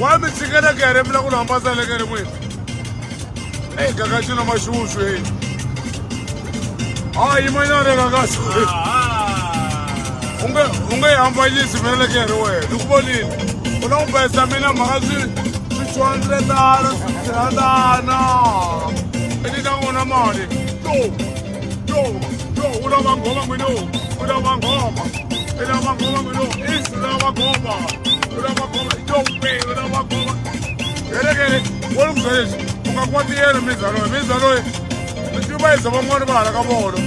wa mi tshikela ku ya re mila ku lambasa le ka ri n'wini eyi kakaxi na maxuxu eyi a yimanyana le kakaxi u nge u nge yi hambanyisi mina le ka ri wena ni ku vonile u la ku bayisa mina mhaka swi swi two hundred dala swi three hundana i ni ta n'wina mali to yo yo u lava nghoma n'wini yo u lava nghoma i lava nghoma n'wini yo is u lava nghoma u lava nghoma yo we u lava nghoma helekele wo ni ku byela leswi u nga kuma tiyelo mindzaloyi mindzaloyi mi tiva yisa van'wani va hala ka vona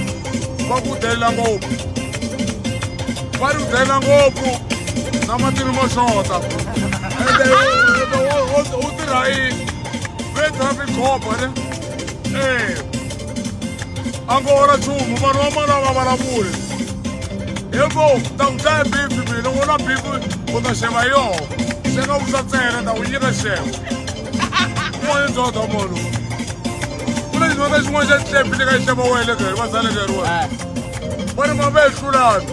va ku delela ngopfu va ri ku delela ngopfu na matini mo xota ende u tirha yini ve traffic cop ne ee a ngo ora nchumu vanhu va mali a va vulavuli hi ngo ta ku dlaya bibi mina n'wana bibi u ta xeva hi yoho se nga vusa ntsena ta ku nyika xevo moya ndzodha munhu ku na xinwana xin'wana xa xihlepi leka xi xeva wele keri va salekeriwa va ri mavehlulanhu